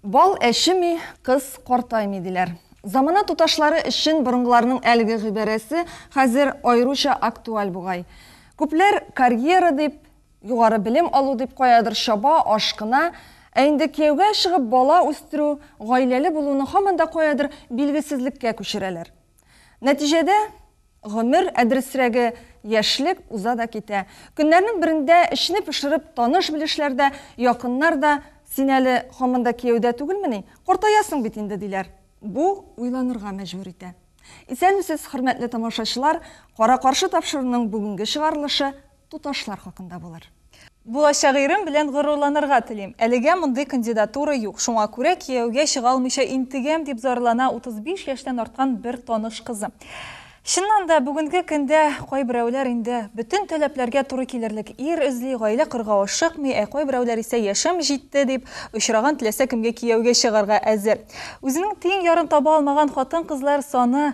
Бал әчеми, кыз картаймый, диләр. Замана туташлары өчен борынгыларның әлеге гыйбарәсе хәзер аеруча актуаль бугай. Күпләр карьера дип, Югары белем алу дип каядыр чаба, ашкына. Ә инде кияүгә чыгып, бала үстерү, гаиләле булуны һаман да каядыр билгесезлеккә күчерәләр. Нәтиҗәдә, гомер, ә дөресрәге, яшьлек уза да китә. Көннәрнең берендә, эчне пошырып, таныш-белешләр дә, якыннар да, Син әле һаман да кияүдә түгелмени? Картаясың бит инде, диләр. Бу уйланырга мәҗбүр итә. Исәнмесез, хөрмәтле тамашачылар! Кара-каршы тапшыруның бүгенге чыгарылышы туташлар хакында булыр. Булачак ирем белән горурланырга телим. Әлегә мондый кандидатура юк. Шуңа күрә кияүгә чыга алмыйча интегәм, дип зарлана 35 яшьтән арткан бер таныш кызы. Чыннан да, бүгенге көндә кайберәүләр инде бөтен таләпләргә туры килерлек ир эзли, гаилә корырга ашыкмый, ә кайберәүләр исә яшем җитте, дип, очраган теләсә кемгә кияүгә чыгарга әзер. Үзенең тиң ярын таба алмаган хатын-кызлар саны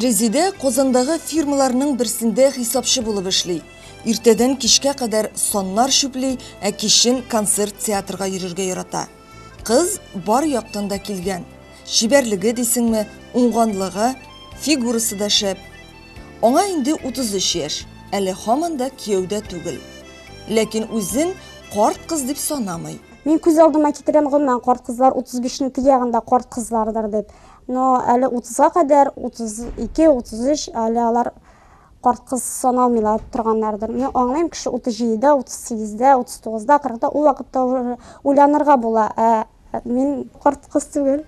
Резидә Казандагы фирмаларның берсендә хисапчы булып эшли. Иртәдән кичкә кадәр саннар чүпли, ә кичен концерт театрга йөрергә ярата. Кыз бар яктан да килгән. Чибәрлеге дисеңме, уңганлыгы, фигурасы да шәп. Аңа инде 33 яшь, әле һаман да кияүдә түгел. Ләкин үзен карт кыз дип санамый. Мин күз алдыма китерәм гомумән карт кызлар 35-нең тиягендә карт кызлардыр дип. Но әле 30-га кадәр 32, 33 әле алар карт кыз саналмыйлар торганнардыр. Мин аңлыйм, кеше 37-дә, 38-дә, 39-да, 40-да ул вакытта уйланырга була. Ә мин карт кыз түгел.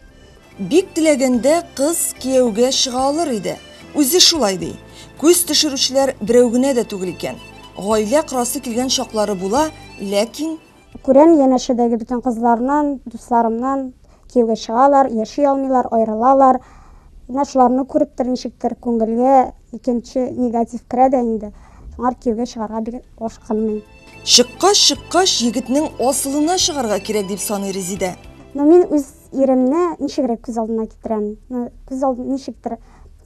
Бик теләгәндә кыз кияүгә чыга алыр иде. Үзе шулай ди. Күз төшерүчеләр берәү генә дә түгел икән. Гаилә корасы килгән чаклары була, ләкин Күрәм, янәшәдәге бөтен кызларнан, дусларымнан кияүгә чыгалар, яши алмыйлар, аерылалар. Менә шуларны күреп тә ничектер күңелгә икенче негатив керә дә инде. Шуңар кияүгә чыгарга бик ашкынмыйм. Чыккач, чыккач, егетнең асылына чыгарга кирәк, дип саный Резидә. Ну, мин үз Иремне ничегрәк күз алдына китерәм? Ну, күз алды ничектер,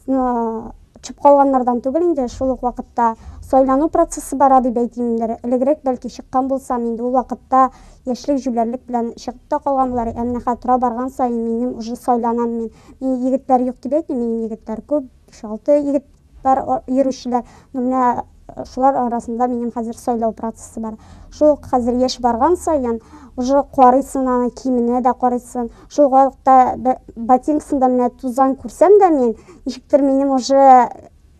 ну, төшеп калганнардан түгел инде, шул ук вакытта сайлану процессы бара дип әйтимдер. Элегрәк бәлки чыккан булсам, инде ул вакытта яшьлек җүләрлек белән чыгып та калган булар. Ә менә хәзер тора барган саен минем уже сайланам мин. Мин егетләр юк дип әйтмим, минем егетләр күп, 5-6 егет Бар йөрүчеләр. Ну менә шулар арасында минем хәзер сайлау процессы бар. Шул ук хәзер яшь барган саен, уже карыйсын аны, киеменә дә карыйсын. Шул вакытта ботинкасында менә тузан күрсәм дә мин, ничектер минем уже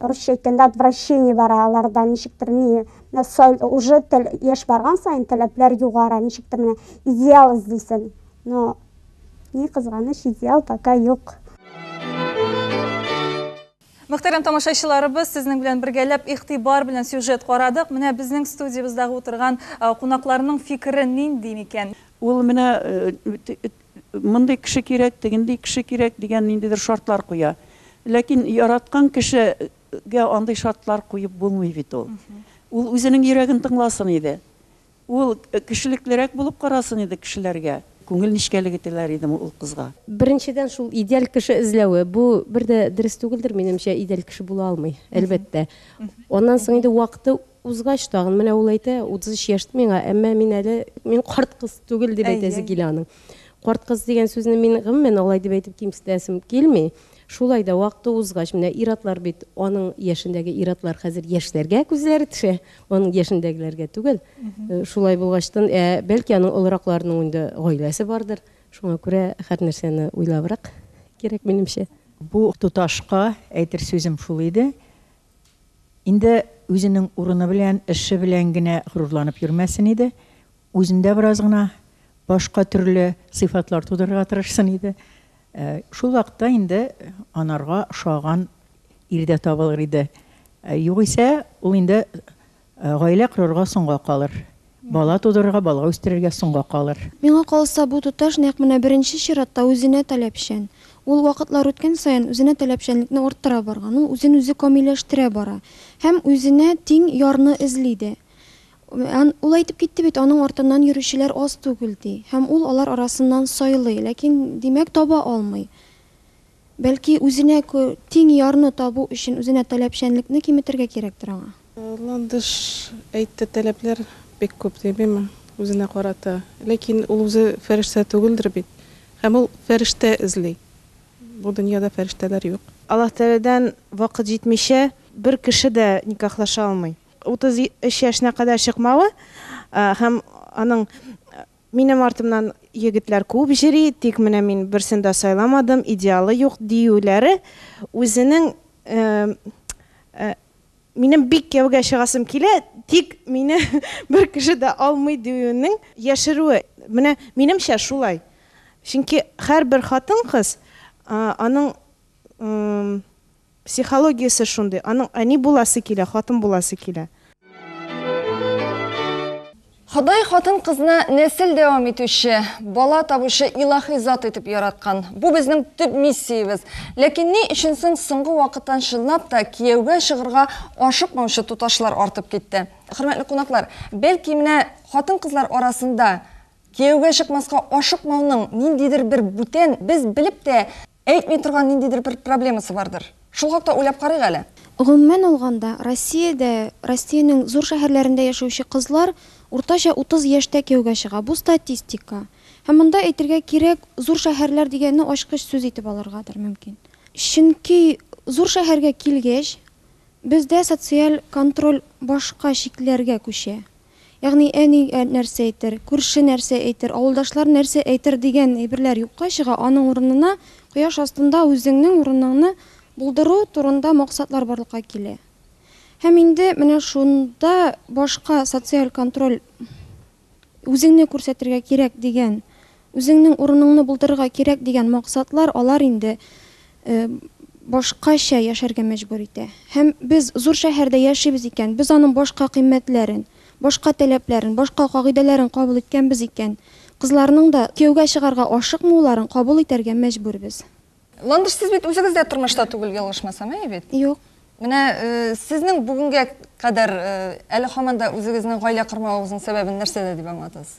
русча әйткәндә отвращение бара алардан, ничектер ни, менә сай, уже тел, яшь барган саен таләпләр югара, ничектер менә идеал эзлисен. Но ни кызганыч, идеал пока юк. Мөхтәрәм тамашачыларыбыз, сезнең белән бергәләп игътибар белән сюжет карадык. Менә безнең студиябездагы утырган кунакларның фикере нинди микән? Ул менә мондый кеше кирәк, тегенди кеше кирәк дигән ниндидер шартлар куя. Ләкин яраткан кешегә андый шартлар куеп булмый бит ул. Ул үзенең йөрәген тыңласын иде. Ул кешелеклерәк булып карасын иде кешеләргә. Күңел нечкәлеге теләр идем ул кызга. Беренчедән, шул идеаль кеше эзләве, бу бер дә дөрес түгелдер, минемчә, идеаль кеше була алмый, әлбәттә. Аннан соң инде вакыты узгач, тагын, менә ул әйтә, 33 яшь миңа, әмма мин әле, мин карт кыз түгел, дип әйтәсе килә аның. Карт кыз дигән сүзне мин, гомумән, алай дип әйтеп кимсетәсем килми. Шулай да, вакыты узгач, менә ир-атлар бит, аның яшендәге ир-атлар хәзер яшьләргә күзләре төшә, аның яшендәгеләргә түгел. Э, шулай булгачтан, ә бәлки аның олыракларының инде гаиләсе бардыр. Шуңа күрә һәр нәрсәне уйлабрак кирәк минемчә. Бу туташка әйтер сүзем шул иде. Инде үзенең урыны белән, эше белән генә горурланып йөрмәсен иде. Үзендә бераз гына башка төрле сыйфатлар тудырырга тырышсын иде. Ә, шул вакытта инде анарга ошаган ир дә табылыр иде. Ә, югыйсә, ул инде ә, гаилә корырга соңга калыр. Бала тудырырга, бала үстерергә соңга калыр. Миңа калса, бу туташ нәкъ менә беренче чиратта үзенә таләпчән. Ул вакытлар үткән саен үзенә таләпчәнлекне арттыра барган, ул үзен үзе камилләштерә бара. Һәм үзенә тиң ярны эзли дә. Ул әйтеп китте бит, аның артыннан йөрүчеләр аз түгел, ди. Һәм ул алар арасыннан сайлый, ләкин, димәк, таба алмый. Бәлки, үзенә тиң ярны табу өчен үзенә таләпчәнлекне киметергә кирәктер аңа? Ландыш әйтте, таләпләр бик күп, димиме, үзенә карата. Ләкин ул үзе фәрештә түгелдер бит. Һәм ул фәрештә эзли. Бу дөньяда фәрештәләр юк. Аллаһ Тәгаләдән вакыт җитмичә, бер кеше дә никахлаша алмый. 33 яшенә кадәр чыкмавы һәм аның Минем артымнан егетләр күп җыри, тик менә мин берсен дә сайламадым, идеалы юк, диюләре үзенең Минем бик кияүгә чыгасым килә, тик мине бер кеше дә алмый диюенең яшерүе. Менә минемчә шулай. Чөнки һәрбер хатын-кыз аның Психологиясе шундый, аның әни буласы килә, хатын буласы килә. Ходай хатын-кызны нәсел дәвам итүче, бала табучы илаһи зат итеп яраткан. Бу безнең төп миссиябез. Ләкин ни өчен соң соңгы вакыттан чынлап та кияүгә чыгырга ашыкмаучы туташлар артып китте? Хөрмәтле кунаклар, бәлки менә хатын-кызлар арасында кияүгә чыкмаска ашыкмауның ниндидер бер бүтән, без белеп тә Әйтми торган ниндидер бер проблемасы бардыр. Шул хакта уйлап карыйк әле. Гомумән алганда, Россиядә, Россиянең зур шәһәрләрендә яшәүче кызлар уртача 30 яшьтә кияүгә чыга. Бу статистика. Һәм монда әйтергә кирәк, зур шәһәрләр дигәнне ачкыч сүз итеп алыргадыр мөмкин. Чөнки зур шәһәргә килгәч, бездә социаль контроль башка чикләргә күчә. Ягъни, әни нәрсә әйтер, күрше нәрсә әйтер, авылдашлар нәрсә әйтер дигән әйберләр юкка чыга, аның урынына кояш астында үзеңнең урыныңны булдыру турында максатлар барлыкка килә. Һәм инде менә шунда башка социаль контроль, үзеңне күрсәтергә кирәк дигән Үзеңнең урыныңны булдырырга кирәк дигән максатлар алар инде башкача яшәргә мәҗбүр итә. Һәм без зур шәһәрдә яшибез икән, без аның башка кыйммәтләрен, башка таләпләрен, башка кагыйдәләрен кабул иткәнбез икән, кызларның да кияүгә чыгарга ашыкмауларын кабул итәргә мәҗбүрбез. Ландыш, сез бит үзегез дә тормышта түгел, ялгышмасам, әйе бит? Юк. Менә сезнең бүгенгә кадәр әле һаман да үзегезнең гаилә кормавыгызның сәбәбен нәрсәдә дип аңлатасыз?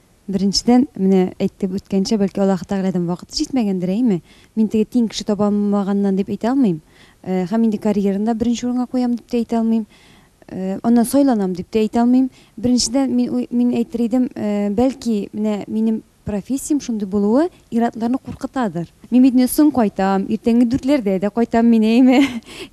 Беренчедән, менә әйтеп үткәнчә, бәлки Аллаһы Тәгаләдән вакыты җитмәгәндер, әйеме? Мин теге тиң кеше таба алмаганнан дип әйтә алмыйм. Һәм инде карьераны да беренче урынга куям дип тә әйтә алмыйм. Аннан сайланам дип тә әйтә алмыйм. Беренчедән, мин мин әйтер идем, бәлки, менә минем профессиям шундый булуы, Ир-атларны куркытадыр. Мин бит инде соң кайтам, иртәнге дүртләрдә дә кайтам мин, әйеме?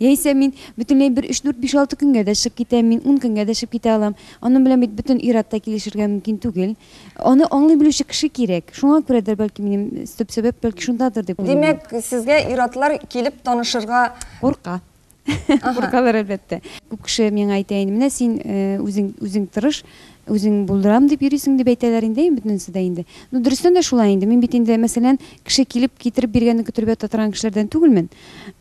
Яисә мин бөтенләй бер өч-дүрт, биш-алты көнгә дә чыгып китәм мин, ун көнгә дә чыгып китә алам. Аның белән бит бөтен ир-ат та килешергә мөмкин түгел. Аны аңлый белүче кеше кирәк. Шуңа күрәдер, бәлки, минем төп сәбәп, бәлки, шундадыр дип уйлыйм мин. Димәк, сезгә ир-атлар килеп танышырга. Курка. Куркалар, әлбәттә. Күп кеше миңа әйтә инде, менә син үзең үзең тырыш, үзең булдырам дип йөрисең дип әйтәләр инде бөтенесе дә инде. Ну, дөрестән дә шулай инде. Мин бит инде, мәсәлән, кеше килеп китереп биргәнне көтеп ята торган кешеләрдән түгелмен.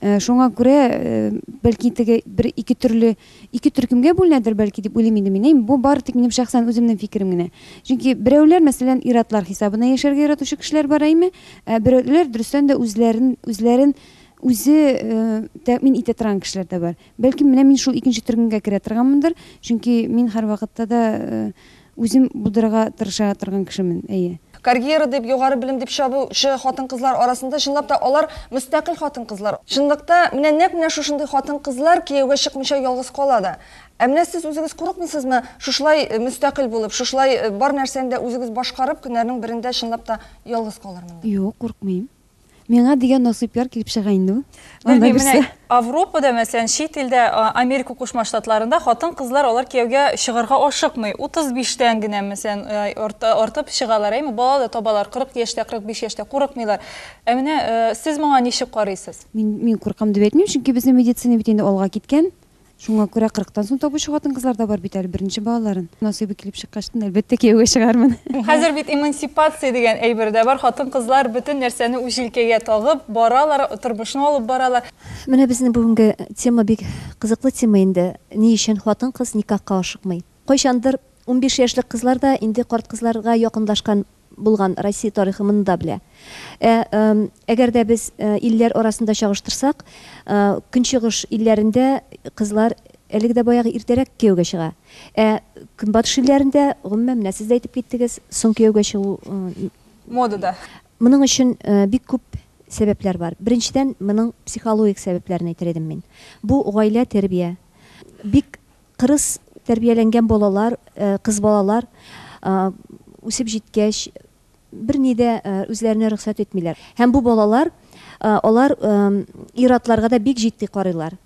Э, шуңа күрә, э, бәлки теге бер ике төрле, ике төркемгә бүленәдер бәлки дип уйлыйм инде мин. Бу бары тик минем шәхсән үземнең фикерем генә. Чөнки берәүләр, мәсәлән, иратлар хисабына яшәргә яратучы кешеләр бар әйме, ә берәүләр дөрестән дә үзләрен үзләрен үзе тәэмин итә торган кешеләр дә бар. Бәлкем, менә мин шул икенче төркемгә керә торганмындыр, чөнки мин һәрвакытта да үзем булдырырга тырыша торган кешемен, әйе. Карьера дип, югары белем дип чабучы хатын-кызлар арасында, чынлап та, алар мөстәкыйль хатын-кызлар. Чынлыкта, менә нәкъ менә шушындый хатын-кызлар кияүгә чыкмыйча ялгыз кала да. Ә менә сез үзегез курыкмыйсызмы шушылай мөстәкыйль булып, шушылай бар нәрсәне дә үзегез башкарып, көннәрнең берендә чынлап та ялгыз калырмын дип? Юк, курыкмыйм. Миңа дигән насыйплар килеп чыга инде ул. Белмим, менә Авропада, мәсәлән, чит илдә, Америка Кушма Штатларында хатын-кызлар алар кияүгә чыгарга ашыкмый. 35-тән генә, мәсәлән, артып чыгалар, әйме, бала да табалар, 40 яшьтә, 45 яшьтә курыкмыйлар. Ә менә сез моңа ничек карыйсыз? Мин, мин куркам дип әйтмим, чөнки безнең медицина бит инде алга киткән. Шуңа күрә кырыктан соң табучы хатын-кызлар да бар бит әле беренче балаларын. Насыйбы килеп чыккачтын, әлбәттә, кияүгә чыгармын. Хәзер бит эмансипация дигән әйбер дә бар, хатын-кызлар бөтен нәрсәне үз җилкәгә тагып баралар, тормышны алып баралар. Менә безнең бүгенге тема бик кызыклы тема инде, ни өчен хатын-кыз никахка ашыкмый? Кайчандыр унбиш яшьлек кызлар да инде карт кызларга якынлашкан булган Россия тарихы моны да белә. Ә әгәр дә без илләр арасында чагыштырсак, Көнчыгыш илләрендә кызлар әлеге дә баягы иртәрәк кияүгә чыга. Ә Көнбатыш илләрендә, гомумән, менә сез дә әйтеп киттегез, соң кияүгә чыгу. Модада. Моның өчен бик күп сәбәпләр бар. Беренчедән, моның психологик сәбәпләрен әйтер идем мин. Бу гаилә, тәрбия. Бик Кырыс тәрбияләнгән балалар, кыз балалар үсеп җиткәч, берни дә үзләренә рөхсәт итмиләр. Һәм бу балалар, алар ир-атларга да бик җитди карыйлар.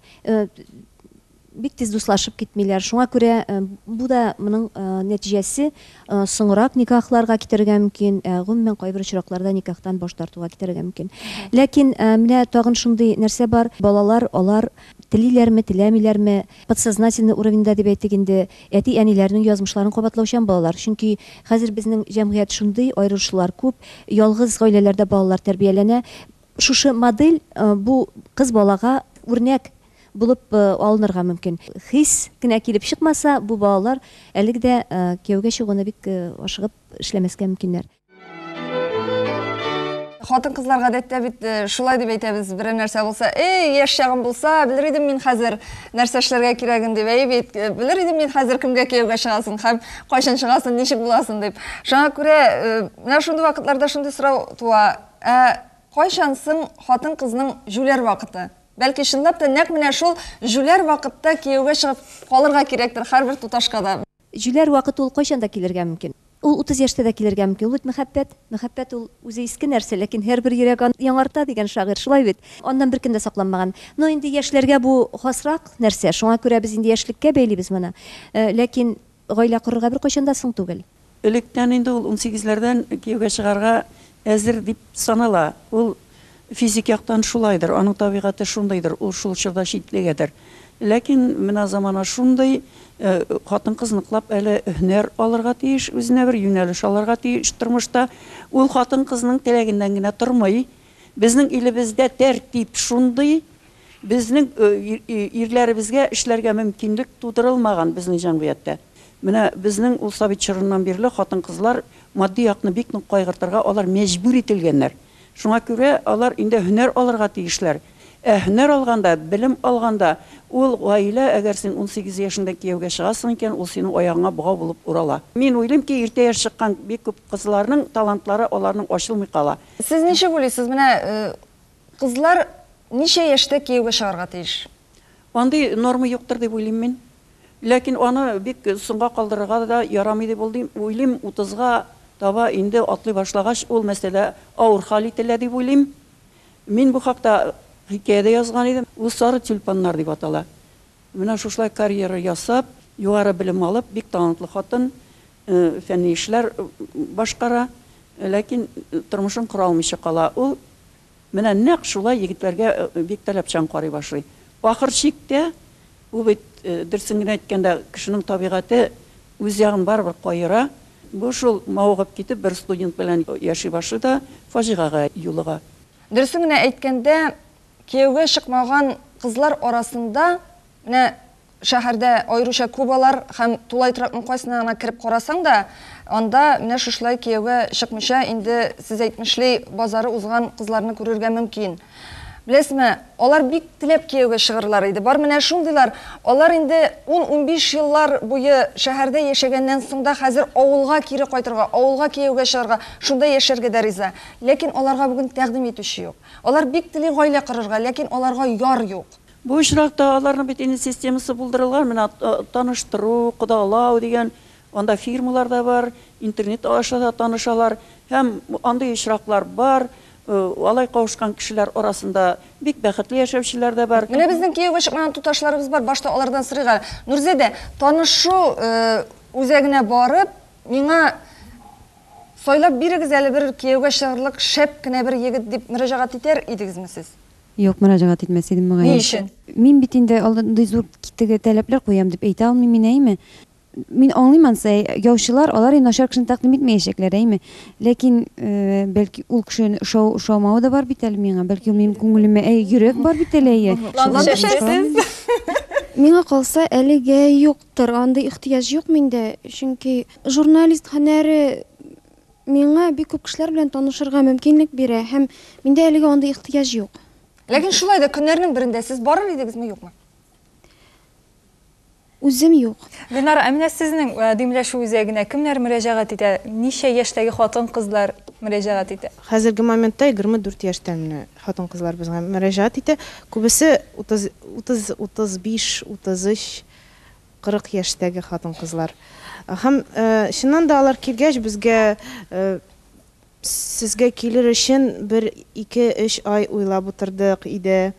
Бик тиз дуслашып китмиләр. Шуңа күрә бу да моның нәтиҗәсе соңрак никахларга китерергә мөмкин, гомумән кайбер очракларда никахтан баш тартуга китерергә мөмкин. Ләкин менә тагын шундый нәрсә бар, балалар, алар телиләрме, теләмиләрме, Подсознательный уровеньда дип әйтик инде, әти-әниләрнең язмышларын кабатлаучан балалар. Чөнки хәзер безнең җәмгыять шундый, аерылышулар күп, ялгыз гаиләләрдә балалар тәрбияләнә. Шушы модель бу кыз балага үрнәк булып алынырга мөмкин. Хис кенә килеп чыкмаса, бу балалар әлеге дә кияүгә чыгуны бик ашыгып эшләмәскә мөмкиннәр. хатын кызлар гадәттә бит э, шулай дип әйтәбез берәр нәрсә булса эй яшь чагым булса белер идем мин хәзер нәрсә эшләргә кирәген дип әй бит э, белер идем мин хәзер кемгә кияүгә чыгасын һәм кайчан чыгасын ничек буласын дип шуңа күрә э, менә шундый вакытларда шундый сорау туа ә кайчан соң хатын кызның җүләр вакыты бәлки чынлап та нәкъ менә шул җүләр вакытта кияүгә чыгып калырга кирәктер һәрбер туташка да Җүләр вакыт ул кайчан да килергә мөмкин. Ул утыз яшьтә дә килергә мөмкин. Ул бит мәхәббәт. Мәхәббәт ул үзе иске нәрсә, ләкин һәрбер йөрәк аны яңарта, дигән шагыйрь, шулай бит? Аннан беркем дә сакланмаган. Но инде яшьләргә бу хасрак нәрсә, шуңа күрә без инде яшьлеккә бәйлибез моны. Ләкин гаилә корырга беркайчан да соң түгел. Электән инде ул унсигезләрдән кияүгә чыгарга әзер дип санала. Ул Физик яктан шулайдыр, аның табигате шундыйдыр, ул шул чорда читлегедер. Ләкин менә замана шундый, хатын-кыз ныклап әле һөнәр алырга тиеш, үзенә бер юнәлеш алырга тиеш тормышта. Ул хатын-кызның теләгеннән генә тормый. Безнең илебездә тәртип шундый, безнең ирләребезгә эшләргә мөмкинлек тудырылмаган безнең җәмгыятьтә. Менә безнең ул совет чорыннан бирле хатын-кызлар матди якны бик нык кайгыртырга алар мәҗбүр ителгәннәр. Шуңа күрә алар инде һөнәр алырга тиешләр. Ә һөнәр алганда, белем алганда ул гаилә, әгәр син унсигез яшеңдә кияүгә чыгасың икән, ул синең аягыңа богау булып урала. Мин уйлыйм ки, иртә яшь чыккан бик күп кызларның талантлары аларның ачылмый кала. Сез ничек уйлыйсыз, менә кызлар ничә яшьтә кияүгә чыгарга тиеш? Андый норма юктыр дип уйлыйм мин. Ләкин аны бик соңга калдырырга да ярамый дип уйлыйм. Утызга таба инде атлый башлагач, ул мәсьәлә авыр хәл ителә дип уйлыйм. Мин бу хакта хикәя дә язган идем. Ул сары тюльпаннар дип атала. Менә шушылай карьера ясап, югары белем алып, бик талантлы хатын, фәнни эшләр башкара, ләкин тормышын кора алмыйча кала. Ул Менә нәкъ шулай егетләргә бик таләпчән карый башлый. Ахыр чиктә, бу бит, дөресен генә әйткәндә, кешенең табигате үз ягын барыбер каера. Бу шул мавыгып китеп, бер студент белән яши башлый да фаҗигагә юлыга. Дөресен генә әйткәндә, кияүгә чыкмаган кызлар арасында менә Шәһәрдә аеруча күп алар һәм тулай трактның кайсына гына кереп карасаң да, анда менә шушлай кияүгә чыкмыйча инде сез әйтмешли базары узган кызларны күрергә мөмкин. Беләсезме, алар бик теләп кияүгә чыгырлар иде, бар менә шундыйлар, алар инде ун-унбиш еллар буе шәһәрдә яшәгәннән соң да хәзер авылга кире кайтырга, авылга кияүгә чыгарга, шунда яшәргә дә риза. Ләкин аларга бүген тәкъдим итүче юк. Алар бик тели гаилә корырга, ләкин аларга яр юк. Бу очракта аларның бит инде системасы булдырылган, менә таныштыру, кодалау дигән, анда фирмалар да бар, интернет аша да танышалар һәм андый очраклар бар, алай кавышкан кешеләр арасында бик бәхетле яшәүчеләр дә бар. Менә безнең кияүгә чыкмаган туташларыбыз бар, башта алардан сорыйк әле. Нурзәдә, танышу үзәгенә барып, миңа сайлап бирегез әле бер кияүгә чыгырлык шәп кенә бер егет, дип мөрәҗәгать итәр идегезме сез? Юк, мөрәҗәгать итмәс идем, мөгаен. Ни өчен? Мин бит инде андый зур теге таләпләр куям дип әйтә алмыйм мин, әйме? Мин аңлыйм ансы, яучылар, алар и начар кешене тәкъдим итмәячәкләр, әйме? Ләкин, э, бәлки, ул кешене ошау, ошаумавы да бар бит әле миңа, бәлки, ул минем күңелемә, әй, йөрәк бар бит әле, әйе. Шуңа төшәсез. Миңа калса, әлегә юктыр, андый ихтыяҗ юк миндә, чөнки журналист һөнәре миңа бик күп кешеләр белән танышырга мөмкинлек бирә һәм миндә әлегә андый ихтыяҗ юк. Ләкин шулай да көннәрнең берендә сез барыр идегезме, юкмы? Үзем юк. Ленар, ә менә сезнең э, димләшү үзәгенә кемнәр мөрәҗәгать итә? Ничә яшьтәге хатын-кызлар мөрәҗәгать итә? Хәзерге моментта 24 яшьтән менә хатын-кызлар безгә мөрәҗәгать итә. Күбесе 30, 30, 35, 33 40 яшьтәге хатын-кызлар. Һәм, чыннан да, алар килгәч, безгә, Сезгә килер өчен бер ике-өч ай уйлап утырдык иде.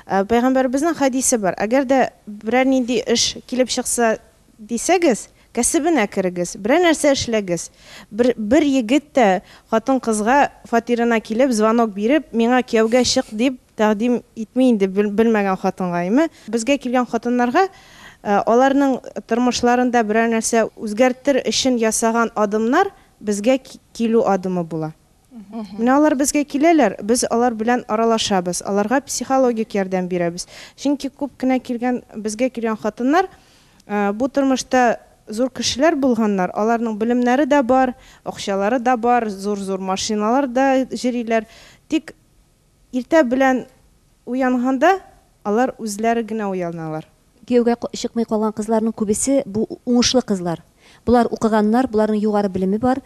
Пәйгамбәребезнең хәдисе бар, Әгәр дә берәр нинди эш килеп чыкса дисәгез, кәсебенә керегез, берәр нәрсә эшләгез. Бер, бер егет тә хатын-кызга фатирына килеп, звонок биреп, Миңа кияүгә чык, дип Тәкъдим итми инде белмәгән хатынга, әйме? Безгә килгән хатыннарга аларның тормышларында берәр нәрсә үзгәртер өчен ясаган адымнар безгә килү адымы була. Менә алар безгә киләләр, без алар белән аралашабыз, аларга психологик ярдәм бирәбез. Чөнки күп кенә килгән, безгә килгән хатыннар бу тормышта зур кешеләр булганнар, аларның белемнәре дә бар, акчалары да бар, зур-зур машиналарда йөриләр, тик. Иртә белән уянганда алар үзләре генә уяналар. Кияүгә чыкмый калган кызларның күбесе бу уңышлы кызлар. Болар укыганнар, боларның югары белеме бар.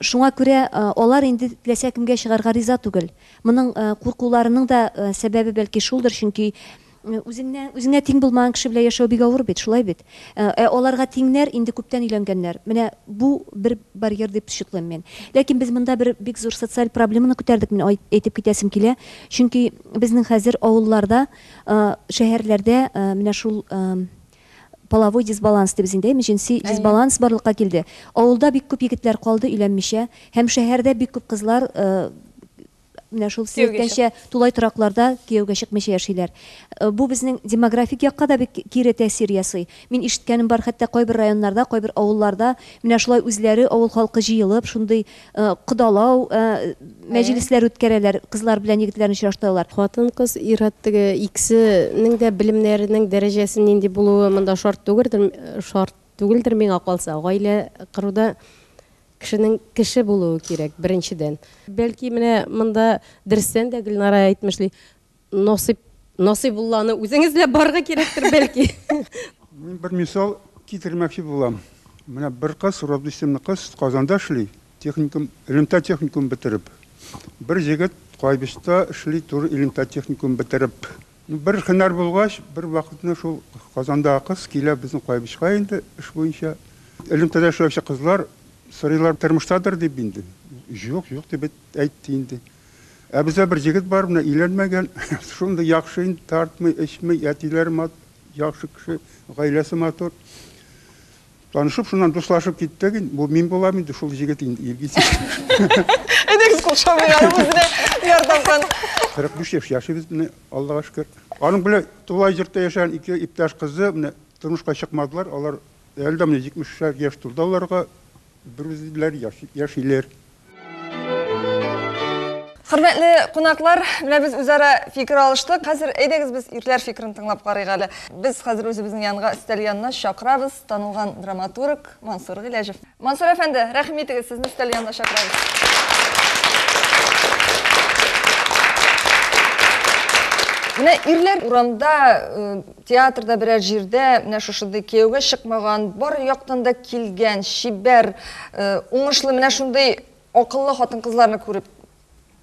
Шуңа күрә алар инде теләсә кемгә чыгарга риза түгел. Моның куркуларының да сәбәбе бәлки шулдыр, чөнки Үзеңнән, үзеңә тиң булмаган кеше белән яшәү бик авыр бит, шулай бит? Ә аларга тиңнәр инде күптән өйләнгәннәр. Менә бу бер барьер дип счетлыйм мин. Ләкин без монда бер бик зур социаль проблеманы күтәрдек, мин әйтеп китәсем килә. Чөнки безнең хәзер авылларда, шәһәрләрдә менә шул половой дисбаланс дибез инде, әйме, җенси дисбаланс барлыкка килде. Авылда бик күп егетләр калды өйләнмичә һәм шәһәрдә бик күп кызлар Менә шул сәяхәтчә тулай торакларда кияүгә чыкмыйча яшиләр. Э, бу безнең демографик якка да бик кире тәэсир ясый. Мин ишеткәнем бар, хәтта кайбер районнарда, кайбер авылларда менә шулай үзләре авыл халкы җыелып, шундый э, кодалау э, мәҗлесләр үткәрәләр, кызлар белән егетләрне очраштыралар. Хатын-кыз ир-ат теге икесенең дә белемнәренең дәрәҗәсе нинди булуы монда шарт түгелдер, шарт Түгелдер миңа калса, гаилә коруда кешенең кеше булуы кирәк, беренчедән. Бәлки, менә монда дөрестән дә Гөлнара әйтмешли, насыйп, насыйбулланы үзең эзләп барырга кирәктер, бәлки. Мин бер мисал китермәкче булам. Менә бер кыз, Роза исемле кыз, Казанда эшли, техникум, элемтә техникумын бетереп. Бер җегет Кайбычта эшли, тоже элемтә техникумын бетереп. Бер һөнәр булгач, бервакытны шул Казандагы кыз килә безнең Каебичка инде эш буенча. Элемтәдә эшләүче кызлар сорыйлар, тормыштадыр дип инде. Җук, җук дип әйтте инде. Ә бездә бер җегет бар, менә өйләнмәгән, шундый яхшы инде, тартмый, эчми, әтиләре яхшы кеше, гаиләсе матур. Танышып, шуннан дуслашып киттек инде. Бу мин булам инде, шул җегет инде Илгиз. Әйдәгез кул шабыйга үзенә ярдәмган. 45 яшь яшибез менә, Аллага шөкер. Аның белән тулай җортта яшәгән ике иптәш кызы менә тормышка чыкмадылар. Алар әле дә менә 70 яшь тулды аларга. Берүзләре яшиләр. Хөрмәтле кунаклар, менә без үзара фикер алыштык. Хәзер әйдәгез без ирләр фикерен тыңлап карыйк әле. Без хәзер үзебезнең янга өстәл янына чакырабыз танылган драматург Мансур Гыйләҗев. Мансур әфәнде, рәхим итегез, сезне өстәл янына чакырабыз. Менә ирләр урамда э, Театрда берәр җирдә менә шушындый кияүгә чыкмаган, бар яктан да килгән, чибәр, уңышлы менә шундый акыллы хатын-кызларны күреп,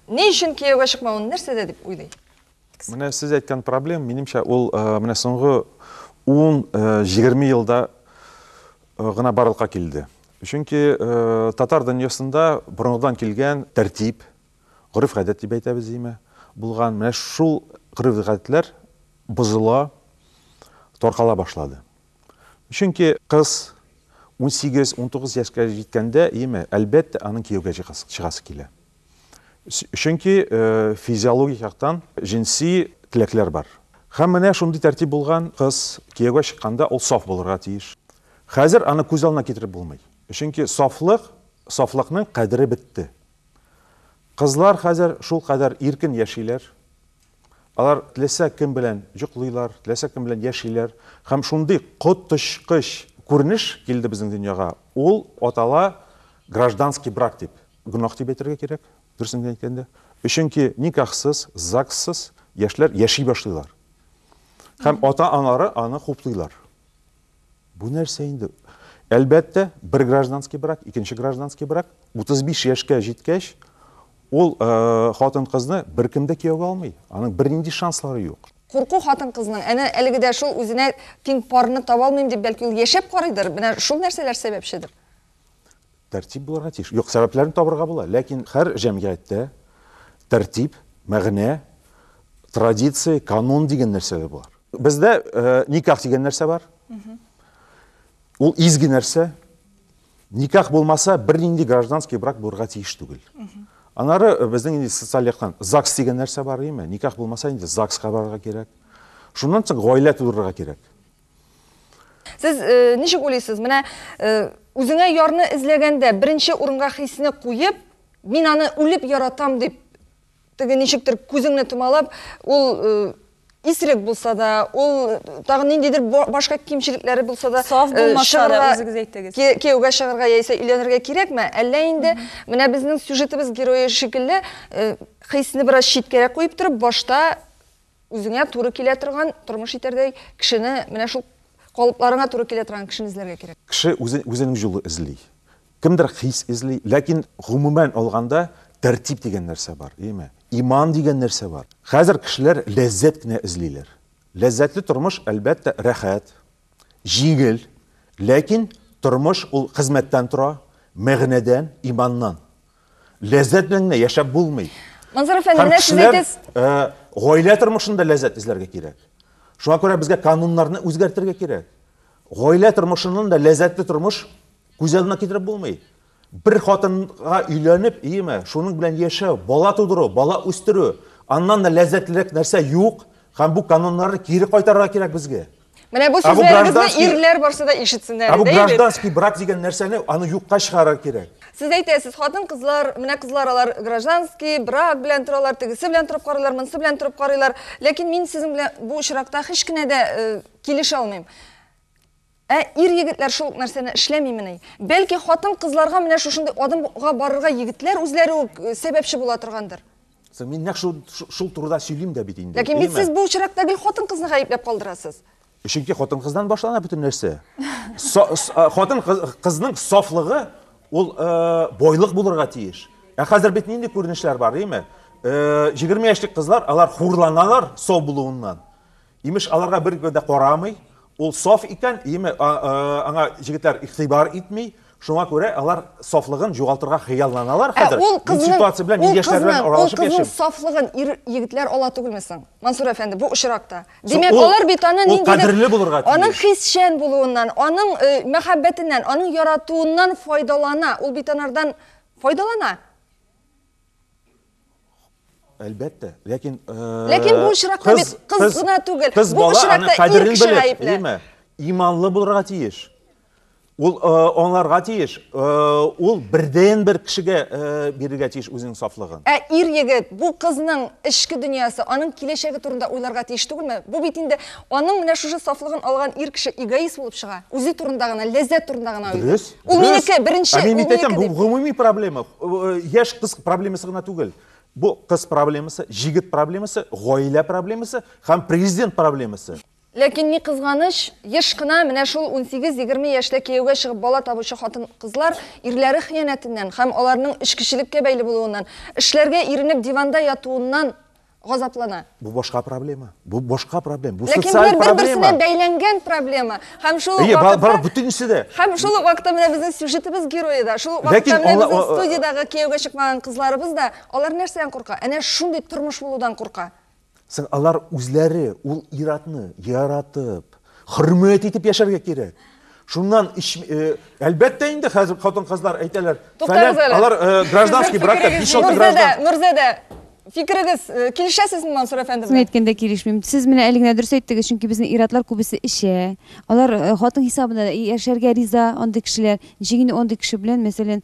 ни өчен кияүгә чыкмавын нәрсәдә дип уйлый? Менә сез әйткән проблем, минемчә, ул менә соңгы ун, җигерме елда гына барлыкка килде. Чөнки татар дөньясында борынгыдан килгән тәртип, Гореф-гадәт дип әйтәбез име, булган. Менә шул гореф-гадәтләр бозыла, таркала башлады. Чөнки кыз унсигез, унтугыз яшькә җиткәндә, име, әлбәттә, аның кияүгә чыгасы, чыгасы килә. Чөнки физиологик яктан җенси теләкләр бар. Һәм менә шундый тәртип булган, кыз кияүгә чыкканда ул саф булырга тиеш. Хәзер аны күз алдына китереп булмый. Чөнки сафлык, сафлыкның кадере бетте. Кызлар хәзер шулкадәр иркен яшиләр. Алар теләсә кем белән йоклыйлар, теләсә кем белән яшиләр. Һәм шундый коточкыч күренеш килде безнең дөньяга, ул атала гражданский брак дип. Гөнаһ дип әйтергә кирәк, дөресен генә әйткәндә. Өченки никахсыз, ЗАГСсыз яшьләр яши башлыйлар. Һәм ата-аналары аны хуплыйлар. Бу нәрсә инде? Әлбәттә, бер гражданский брак, икенче гражданский брак, 35 яшькә җиткәч, ул хатын-кызны беркем дә кияүгә алмый. Аның бернинди шанслары юк. Курку хатын-кызның, әнә әлеге дә шул, үзенә тиң парны таба алмыйм дип, бәлки ул яшәп карыйдыр, менә шул нәрсәләр сәбәпчедер. Тәртип булырга тиеш. Юк, сәбәпләрен табырга була, ләкин хәр җәмгыятьтә тәртип, мәгънә, традиция, канун дигән нәрсә дә бар. Бездә никах дигән нәрсә бар. Ул изге нәрсә. Никах булмаса, бернинди гражданский брак булырга тиеш түгел. Анары безнең инде социаль яктан ЗАГС дигән нәрсә бар, әйеме? Никах булмаса, инде ЗАГСка барырга кирәк. Шуннан соң гаилә тудырырга кирәк. Сез э, ничек уйлыйсыз? Менә э, үзеңә ярны эзләгәндә беренче урынга хисне куеп, мин аны үлеп яратам дип теге ничектер күзеңне томалап, ул э, исерек булса да, ул тагы ниндидер башка кимчелекләре булса да, саф э, булмаса да үзегез әйтегез. Кияүгә чыгарга яисә өйләнергә кирәкме? Әллә инде менә безнең сюжетыбыз герое шикелле э, хисне бераз читкәрәк куеп торып, башта Үзеңә туры килә торган, тормыш итәрдәй кешене, менә шул калыпларыңа туры килә торган кешене эзләргә кирәк. Кеше үзе, үзенең юлы эзли. Кемдер хис эзли, ләкин гомумән алганда тәртип дигән нәрсә бар, яме, иман дигән нәрсә бар. Хәзер кешеләр ләззәт кенә эзлиләр. Ләззәтле тормыш, әлбәттә, рәхәт, җиңел, ләкин тормыш ул хезмәттән тора, мәгънәдән, иманнан. Ләззәт белән генә яшәп булмый. Мансур әфәнде, менә сез әйтәсез. Э, гаилә тормышында ләззәт эзләргә кирәк. Шуңа күрә безгә кануннарны үзгәртергә кирәк. Гаилә тормышыннан да ләззәтле тормыш күз алдына китереп булмый. Бер хатынга өйләнеп, иеме, шуның белән яшәү, бала тудыру, бала үстерү, аннан да ләззәтлерәк нәрсә юк, һәм бу кануннарны кире кайтарырга кирәк безгә. Менә бу сүзләрегезне ирләр барсы да ишетсеннәр иде. Бу гражданский брак дигән нәрсәне аны юкка чыгарыр кирәк. Сез әйтәсез, хатын кызлар, менә кызлар алар гражданский брак белән торалар, тегесе белән торып карыйлар, монысы белән торып карыйлар. Ләкин мин сезнең белән бу очракта һич кенә дә э, килешә алмыйм. Ә ир егетләр шул нәрсәне эшләмимени? Бәлки хатын кызларга менә шушындый адымга барырга егетләр үзләре үк э, сәбәпче була торгандыр. Соң мин нәкъ шул шул турыда сөйлим дә бит инде. Ләкин бит сез бу очракта гел хатын-кызны гаепләп калдырасыз. Чөнки хатын-кыздан башлана бөтен нәрсә. Хатын-кызның сафлыгы ул бойлык булырга тиеш. Ә хәзер бит нинди күренешләр бар, димме? 20 яшьлек кызлар, алар хурланалар сау булуыннан. Имеш, аларга беркем дә карамый, ул саф икән, име, аңа җегетләр игътибар итми, шуңа күрә алар сафлыгын югалтырга хыялланалар Ә хәзер. ул Мин кызның, ситуация белән, мин ул яшьләр белән кызның, ул аралашып кызның яшим. сафлыгын ир, егетләр ала түгелме соң, Мансур әфәнде, бу очракта? Димәк, ул- алар бит аны ул ниндидер, кадерле булырга тиеш. аның хисчән булуыннан, аның э, мәхәббәтеннән, аның яратуыннан файдалана, ул бит анардан файдалана. Әлбәттә, ләкин Ләкин бу очракта бит кыз гына түгел. Кыз бу очракта кадерен белеп, иманлы булырга тиеш. Ул аңларга тиеш, ул бердән бер кешегә бирергә тиеш үзенең сафлыгын. Ә ир егет бу кызның эчке дөньясы, аның киләчәге турында уйларга тиеш түгелме? Бу бит инде аның менә шушы сафлыгын алган ир кеше эгоист булып чыга. Үзе турында гына, ләззәт турында гына уйлый. Дөрес. Ул минеке, беренче, ул минеке дип. Бу гомуми проблема. Яш кыз проблемасы гына түгел. Бу кыз проблемасы, җигет проблемасы, гаилә проблемасы һәм президент проблемасы. Ләкин ни кызганыч, еш кына менә шул 18-20 яшьле кияүгә чыгып бала табучы хатын-кызлар ирләре хыянәтеннән һәм аларның эчкечелеккә бәйле булуыннан, эшләргә иренеп диванда ятуыннан газаплана. Бу башка проблема. Бу башка проблема. Бу социаль проблема. Ләкин бер-берсенә бәйләнгән проблема. Һәм шул ук вакытта... Бар, бар, бүтенесе дә. Һәм шул ук вакытта менә безнең сюжетыбыз герое да, шул ук вакытта менә безнең студиядәге кияүгә чыкмаган кызларыбыз да, алар нәрсәдән курка? Әнә шундый тормыш булудан курка. Сен алар үзләре ул иратны яратып, Хөрмәт итеп яшәргә кирәк. Шуннан ич, э, әлбәттә инде хәзер хатын-кызлар әйтәләр, Туктагыз әле. алар э, гражданский бракта 5-6 граждан. Нурзәдә, фикерегез э, килешәсезме Мансур әфәнде Чын әйткәндә килешмим. Сез менә әле генә дөрес әйттегез, чөнки безнең иратлар күбесе эчә. Алар э, хатын хисабына яшәргә риза андый кешеләр. Ничек инде андый кеше белән, мәсәлән,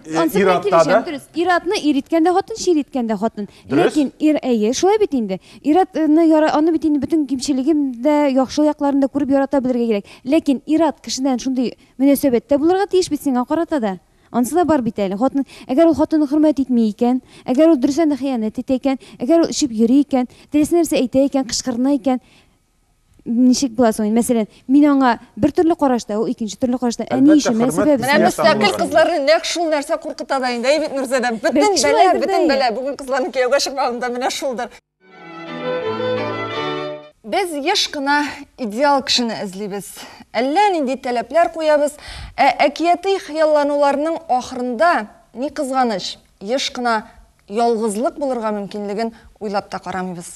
э, Ансы белән иратта килешәм, да. дөрес. Иратны ир иткән дә хатын, чир иткән дә хатын. Дөрес. Ләкин ир әйе, шулай бит инде. Иратны яра, аны бит инде бөтен кимчелеген дә, яхшы якларын да күреп ярата белергә кирәк. Ләкин ират кешедән шундый мөнәсәбәттә булырга тиеш бит сиңа карата да. Ансы да бар бит әле. Хатын, әгәр ул хатынны хөрмәт итми икән, әгәр ул дөрестән дә хыянәт итә икән, әгәр ул эчеп йөри икән, теләсә нәрсә әйтә икән, кычкырына икән, ничек була соң мәсәлән мин аңа бер төрле карашта ул икенче төрле карашта ә ни өчен менә сәбәп менә мөстәкыйль кызларны нәкъ шул нәрсә куркыта да инде әйбит нурзадә бөтен бәла бөтен бәла бүген кызларның кияүгә чыкмавында менә шулдыр без еш кына идеал кешене эзлибез әллә нинди таләпләр куябыз ә әкияти хыяллануларның ахырында ни кызганыч еш кына ялгызлык булырга мөмкинлеген уйлап та карамыйбыз